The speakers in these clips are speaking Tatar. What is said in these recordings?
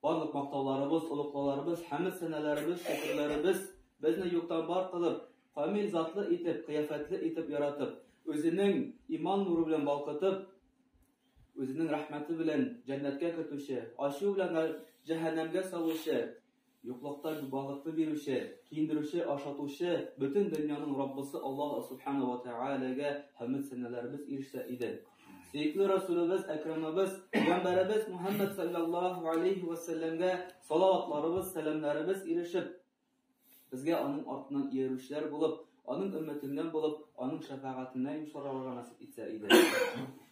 Барлык мактауларыбыз, олуклауларыбыз, хәмд сәнәләребез, шөкерләребез безне юктан бар кылып, камил затлы итеп, кыяфәтле итеп яратып, үзенең иман нуры белән балкытып, үзенең рәхмәте белән җәннәткә кертүче, ачу белән җәһәннәмгә салучы, Юклыкта балыкны бирүче, киендерүче, ашатучы, бөтен дөньяның Раббысы Аллаһ Субхана ва Тәгаләгә хәмд-сәналарыбыз ирешсә иде. Сөекле Расулыбыз, Әкрамыбыз, Пәйгамбәребез Мухаммад саллаллаһу алейхи ва сәлләмгә салаватларыбыз, сәламнәребез ирешеп, безгә аның артыннан иярүчеләр булып, аның өммәтеннән булып, аның шәфәгатенә йомшарырга насыйп итсә иде.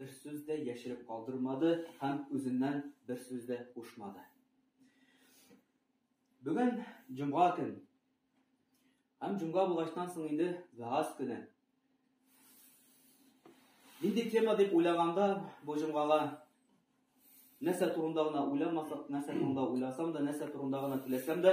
Бер сүз дә яшереп калдырмады һәм үзеннән бер сүз дә кушмады. Бүген җомга көн. Һәм җомга булгачтан соң инде вәгазь көне. Нинди тема дип уйлаганда бу җомгага нәрсә турында гына уйламасак, нәрсә турында уйласам да, нәрсә турында гына теләсәм дә,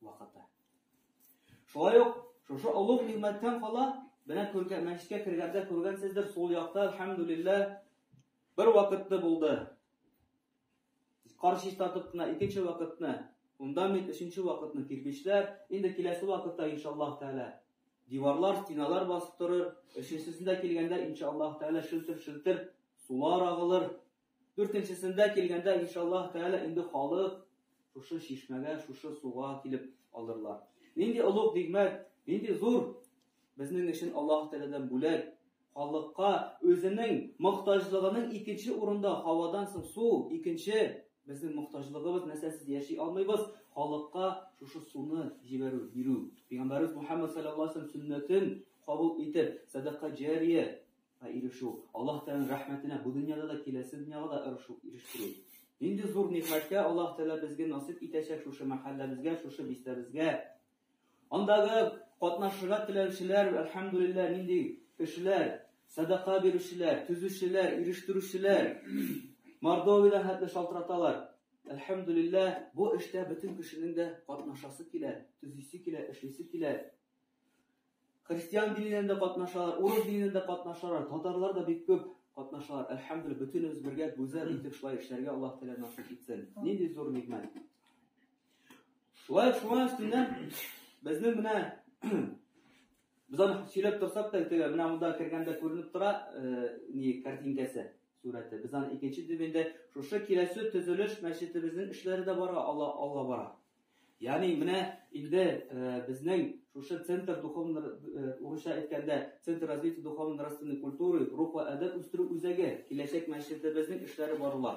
вакыты. Шулай ук шушы олуг нигъмәттән кала, менә күргән мәчеткә кергәндә күргәнсездер, сул якта альхамдулилла бер вакытны булды. Каршы татып кына икенче вакытны, унда мин өченче вакытны кирпечләр, инде киләсе вакытта иншаллаһ тәгалә диварлар, стеналар басып торыр, өченчесендә килгәндә иншаллаһ тәгалә шелтер-шелтер сулар агылыр, Дүртенчесендә килгәндә, иншаллаһ тәгалә, инде халык шушы чишмәгә, шушы суга килеп алырлар. Нинди олуг нигъмәт, нинди зур безнең өчен Аллаһ Тәгаләдән бүләк! Халыкка үзенең мохтаҗлыгының икенче урында, һавадан соң су, икенче безнең мохтаҗлыгыбыз, нәрсәсез яши алмыйбыз, халыкка шушы суны җибәрү, бирү. Пәйгамбәребез Мухәммәд салләллаһу галәйһи ва сәлләм сөннәтен кабул итеп, сәдака җария Ә ирешү, Аллаһ Тәгаләнең рәхмәтенә бу дөньяда да, киләсе дөньяга да ирешү, ирештерү. Нинди зур нигъмәткә Аллаһ Тәгалә безгә насыйп итәчәк шушы мәхәлләбезгә, шушы бистәбезгә. Андагы катнашырга теләүчеләр, әлхәмдүлилләһ, нинди кешеләр, садака бирүчеләр, төзүчеләр, ирештерүчеләр. Мордовиядә хәтле шалтыраталар. Әлхәмдүлилләһ, бу эштә бөтен кешенең дә катнашасы килә, төзисе килә, эшлисе килә. Христиан диненнән дә катнашалар, урыс диненнән дә катнашалар, татарлар да бик күп катнашалар. Әлхәмдүлилла, бөтенебез бергә гүзәл итеп шулай эшләргә Аллаһ Тәгалә насыйп итсен. Нинди зур нигъмәт. Шулай шуңа өстеннән безнең менә без аны сөйләп торсак та, теге менә монда кергәндә күренеп тора, э, ни картинкасы, сурәте. Без аны икенче дивендә шушы киләсе төзелеш мәчетебезнең эшләре дә бара, Алла Алла бара. Ягъни менә инде безнең шушы центр духовно, урысча әйткәндә, Центр развития духовно-нравственной культуры, рух вә әдәп үстерү үзәге, киләчәк мәчетебезнең эшләре барыла,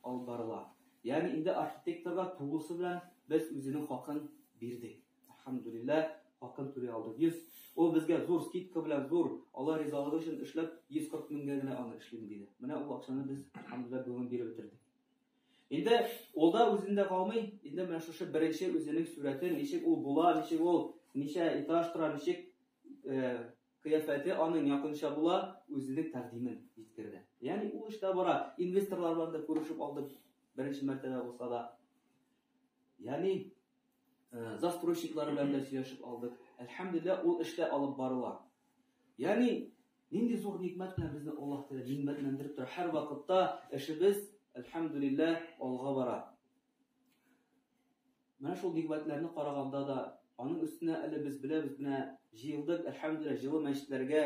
алып барыла. Ягъни инде архитекторга тулысы белән без үзенең хакын бирдек. Әлхәмдүлилләһ, хакын түли алдык. 100, ул безгә зур скидка белән, зур Алла ризалыгы өчен эшләп, 140 меңгә генә аны эшлим диде. Менә ул акчаны без, әлхәмдүлилләһ, бүген биреп бетердек. Инде ул да үзендә калмый, инде менә шушы беренче үзенең сурәтен, ничек ул була, ничек ул ничә этаж тора, ничек э, кыяфәте аның якынча була, үзенең тәкъдимен җиткерде. Ягъни ул эштә бара, инвесторлар белән дә күрешеп алды, беренче мәртәбә булса да. Ягъни Э, застройщиклары белән дә сөйләшеп алдык. Әлхәмдулилла, ул эштә алып барыла. Ягъни, нинди зур никмәт белән безне Аллаһ Тәгалә нимәтләндереп тора. Һәр вакытта эшебез, әлхәмдулилла, алга бара. Менә шул никмәтләрне караганда да, аның өстенә әле без беләбез, менә җыелдык, әлхәмдулилла, җылы мәчетләргә,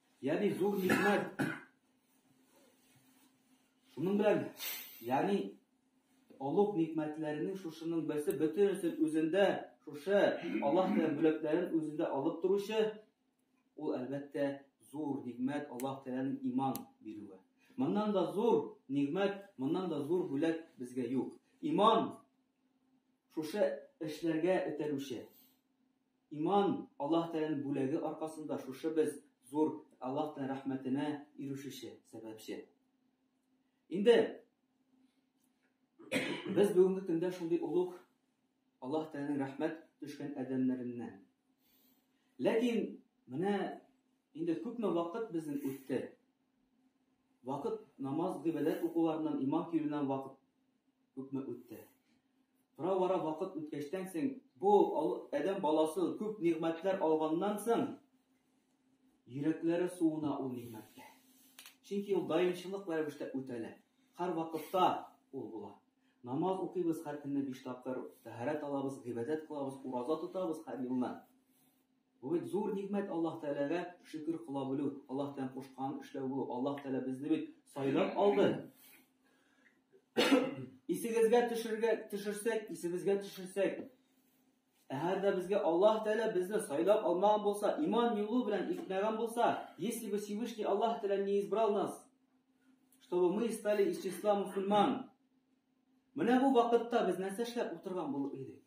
Ягъни зур нигъмәт. Шуның белән, ягъни олуг нигъмәтләренең шушының берсе бөтенесен үзендә, шушы Аллаһ белән бүләкләрен үзендә алып торучы, ул әлбәттә зур нигъмәт Аллаһ Тәгаләнең иман бирүе. Моннан да зур нигъмәт, моннан да зур бүләк безгә юк. Иман шушы эшләргә этәрүче. Иман, Аллаһ Тәгаләнең бүләге аркасында шушы без зур Аллаһ Тәгалә рәхмәтенә ирешүче, сәбәпче. Инде без бүгенге көндә шундый олуг Аллаһ Тәгаләнең рәхмәт төшкән адәмнәреннән. Ләкин менә инде күпме вакыт безнең үтте. Вакыт намаз гыйбадәт укуларыннан, иман киюеннән вакыт Күпме үтте. Тора-бара вакыт үткәчтән соң, бу адәм баласы күп нигъмәтләр алганнан соң, йөрәкләре суына ул нигъмәткә. Чөнки ул даимчылык рәвештә үтәлә. Һәр вакытта ул була. Намаз укыйбыз һәр көнне биш тапкыр, тәһарәт алабыз, гыйбадәт кылабыз, ураза тотабыз һәр елны. Бу бит зур нигъмәт Аллаһ Тәгаләгә шөкер кыла белү, Аллаһ Тәгаләнең кушканын эшләү бу. Аллаһ Тәгалә безне бит сайлап алды. Исегезгә төшергә төшерсәк, исебезгә төшерсәк, әгәр дә безгә Аллаһ Тәгалә безне сайлап алмаган булса, иман юлы белән итмәгән булса, если бы Всевышний Аллаһ Тәгалә не избрал нас, чтобы мы стали из числа мусульман. Менә бу вакытта без нәрсә эшләп утырган булып идек?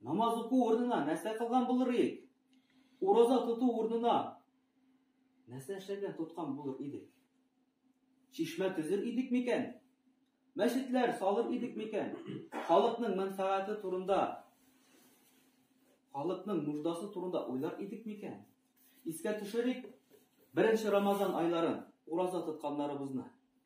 Намаз уку урынына нәрсә кылган булыр идек? Ураза тоту урынына нәрсә эшләгән, тоткан булыр идек? Чишмә төзер идек микән? Мәчетләр салыр идек микән? Халыкның мәнфәгате турында, халыкның нуждасы турында уйлар идек микән? Искә төшерик, беренче Рамазан айларын ураза тотканнарыбызны.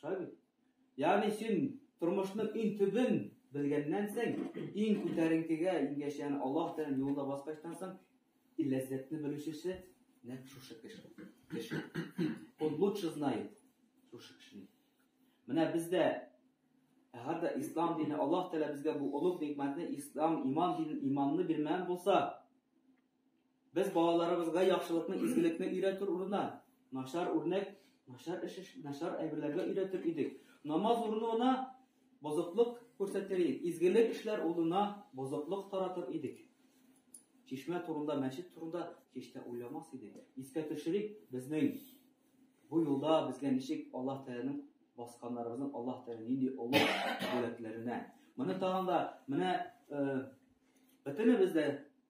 Шулай бит? Ягъни син тормышның иң төбен белгәннән соң, иң күтәренкегә ингәч, ягъни Аллаһ Тәгаләнең юлында баскачтан соң, и ләззәтне белүчесе нәкъ шушы кеше. Кеше. Он лучше знает шушы кешене. Менә бездә Әгәр ислам дине Аллаһ Тәгалә безгә бу олуг никмәтне ислам, иман динен, иманны бирмәгән булса, Без балаларыбызга яхшылыкны, изгелекне өйрәтер урынына, начар үрнәк, начар эш, начар әйберләргә өйрәтер идек. Намаз урынына бозыклык күрсәтер идек, изгелек эшләр урынына бозыклык таратыр идек. Чишмә турында, мәчет турында һич тә уйламас идек. Искә төшерик, безнең бу юлда безгә ничек Аллаһ Тәгаләнең басканнарыбызның Аллаһ Тәгалә нинди олы бүләкләренә. Моны тагында менә бөтенебез дә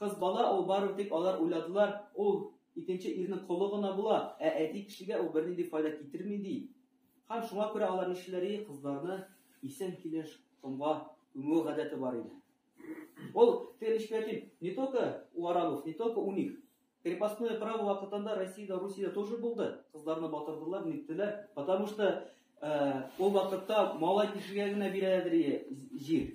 Кыз бала ул барыбер дип алар уйладылар, ул икенче ирнең колы гына була, ә әти кешегә ул бернинди файда китерми, ди. Һәм шуңа күрә алар нишлиләри, кызларны исән килеш комга күмү гадәте бар иде. Ул телешпәтин не только у арабов, не только у них. Крепостное право вакытында Россиядә, Русиядә тоже булды. Кызларны батырдылар, ниттеләр, потому что ул вакытта малай кешегә генә бирәләдер җир.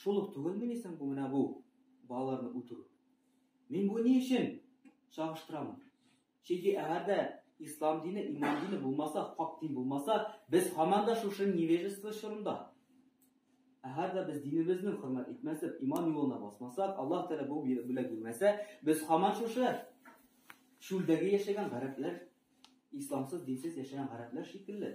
Шул ук түгелмени соң бу менә бу балаларны үтерү? Мин бу ни өчен чагыштырамын? Чөнки әгәр дә ислам дине, иман дине булмаса, хак дин булмаса, без һаман да шушы невежество чорында. Әгәр дә без динебезне хөрмәт итмәсәк, иман юлына басмасак, Аллаһ Тәгалә бу бүләк бирмәсә, без һаман шушы чүлдәге яшәгән гарәпләр, исламсыз, динсез яшәгән гарәпләр шикелле.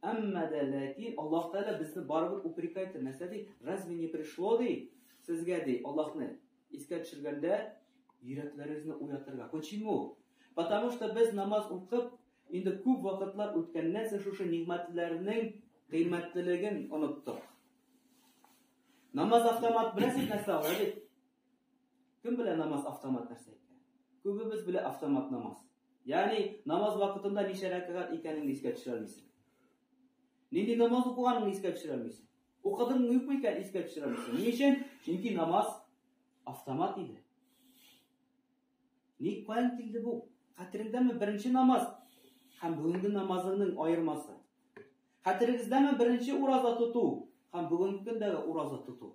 Әмма дә ләкин Аллаһ Тәгалә безне барыбер упрекать итә. Нәрсә ди? Разве не пришло ди? Сезгә ди Аллаһны искә төшергәндә йөрәкләрегезне уятырга. Почему? Потому что без намаз укып, инде күп вакытлар үткәннән соң шушы нигъмәтләрнең кыйммәтлелеген оныттык. Намаз автомат белән сез нәрсә аңлыйсыз? Кем белә намаз автомат нәрсә икән? Күбебез белә автомат намаз. Ягъни намаз вакытында ничә рәкәгать икәнен искә төшерә алмыйсың. Нинди намаз укыганын искә төшерә алмыйсың. Укыдың юкмы икән искә төшерә алмыйсың. Ни өчен? Чөнки намаз автомат иде. Ник каян килде бу? Хәтереңдәме беренче намаз һәм бүгенге намазыңның аермасы? Хәтерегездәме беренче ураза тоту һәм бүгенге көндәге ураза тоту?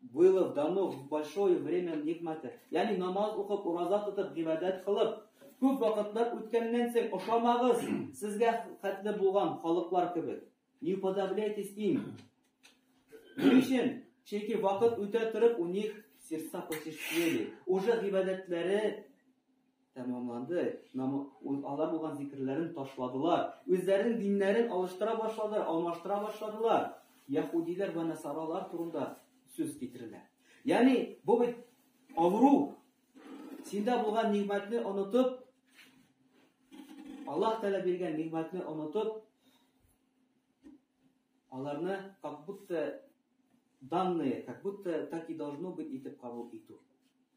Было в дано в большое время нигмате. Ягъни намаз укып, ураза тотып, гыйбадәт кылып, күп вакытлар үткәннән соң ошамагыз сезгә хәтле булган халыклар кебек. Не уподобляйтесь им. Ни Чөнки вакыт үтә торып, у них сердца посещели. Уже гыйбадәтләре Тәмамланды. Намаз алар булган зикерләрен ташладылар. Үзләренең диннәрен алыштыра башладылар, алмаштыра башладылар. Яһудиләр ва насаралар турында сүз китерелә. Ягъни бу бит авыру. Синдә булган нигъмәтне онытып, Аллаһ Тәгалә биргән нигъмәтне онытып, аларны как будто данные, как будто так и должно быть итеп кабул итү.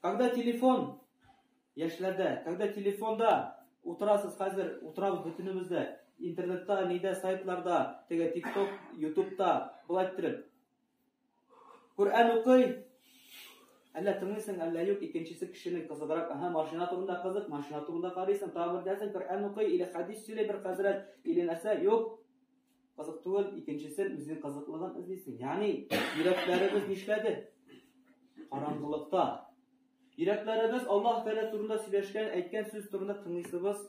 Когда телефон яшьләрдә, когда телефонда утырасыз хәзер, утырабыз бөтенебез дә, интернетта, нидә, сайтларда, теге тикток, ютубта, болай иттереп. Коръән укый, Әллә тыңлыйсың, әллә юк, икенчесе кешенең кызыграк, аһа, машина турында кызык, машина турында карыйсың, тагы бер нәрсә, Коръән укый, или хәдис сөйли бер хәзрәт, или нәрсә, юк. Кызык түгел, икенчесен үзенең кызыклыгын эзлисең. Ягъни, йөрәкләребез нишләде? Караңгылыкта. Йөрәкләребез Аллаһ Тәгалә турында сөйләшкән, әйткән сүз турында тыңлыйсыбыз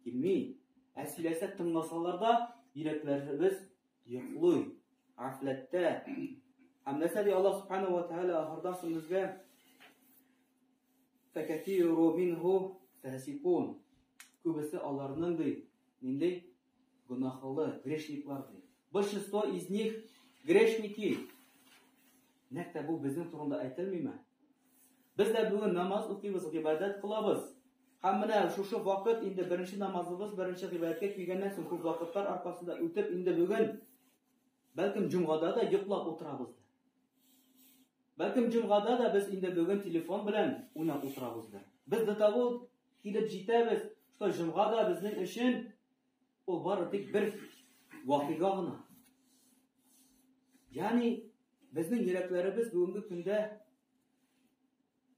килми. Ә сөйләсә тыңласалар да, йөрәкләребез йоклый, афләттә. Һәм нәрсә ди Аллаһ Субхану ва Тәгалә ахырдан соң безгә? Фәкәфиру минһу фәсикун. Күбесе аларның ди, нинди Гөнаһлы, грешниклар ди. Большинство из них грешники. Нәкъ тә бу безнең турында әйтелмиме? Без дә бүген намаз укыйбыз, гыйбадәт кылабыз. Һәм менә шушы вакыт инде беренче намазыбыз, беренче гыйбадәткә килгәннән соң күп вакытлар аркасында үтеп инде бүген бәлкем җомгада да йоклап утырабыз. Бәлкем җомгада да без инде бүген телефон белән уйнап утырабыздыр. Без до того килеп җитәбез, что җомга да безнең өчен ул бары тик бер вакыйга гына. Ягъни безнең йөрәкләребез бүгенге көндә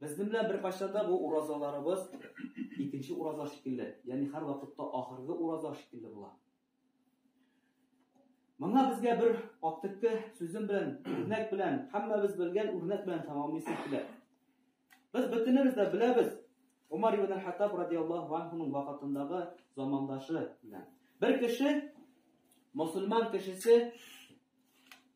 Безнең белән беркайчан да бу уразаларыбыз икенче ураза шикелле, ягъни һәр вакытта ахыргы ураза шикелле була. Моңа безгә бер актыкты сүзем белән, үрнәк белән, һәммәбез белгән үрнәк белән тәмамлыйсы килә. Без бөтенебез дә беләбез, Умар ибн Хаттаб радиаллаһу анһуның вакытындагы замандашы белән. Бер кеше мусульман кешесе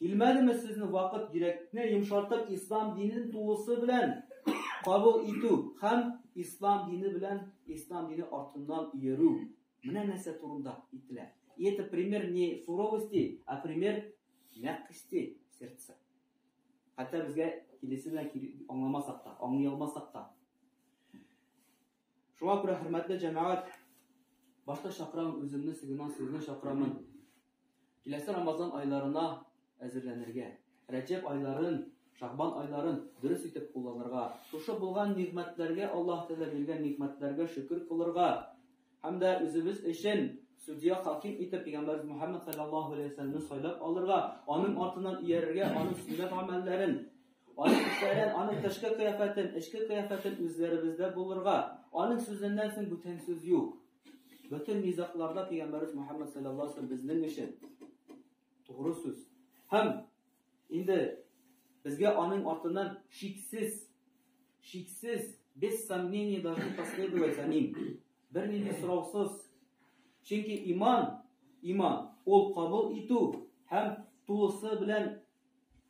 Килмәдеме сезне вакыт йөрәкне йомшартып ислам динен тулысы белән кабул итү һәм ислам дине белән ислам дине артыннан йөрү? Менә нәрсә турында ителә. И это пример не суровости, а пример мягкости сердца. Хәтта безгә килесе белән аңламасак та, аңлый алмасак та. Шуңа күрә, хөрмәтле җәмәгать, башта чакырам үземне, соңыннан сезне чакырамын. Киләсе Рамазан айларына әзерләнергә, Рәҗәб айларын, Шагбан айларын дөрес итеп кулланырга, шушы булган нигъмәтләргә, Аллаһ Тәгалә биргән нигъмәтләргә шөкер кылырга һәм дә үзебез өчен судья хаким итеп пәйгамбәрбез Мухаммад саллаллаһу алейһи ва сәлламне сайлап алырга, аның артыннан иярергә, аның сөннәт гамәлләрен Аның эшләрен, аның тышкы кыяфәтен, эчке кыяфәтен үзләребездә булырга, аның сүзеннән соң бүтән сүз юк. Бөтен низакларда пәйгамбәрбез Мөхәммәд саллаллаһу алейһи ва саллям безнең өчен тугры сүз. Һәм инде безгә аның артыннан шиксез шиксез без сомнение должны последовать за ним. Бернинди сораусыз. Чөнки иман, иман ул кабул итү һәм тулысы белән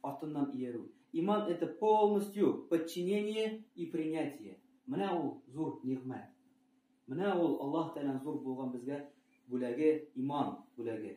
Артыннан иярү. Иман это полностью подчинение и принятие. Менә ул зур нигъмәт. Менә ул Аллаһ Тәгаләнең зур булган безгә бүләге, иман бүләге.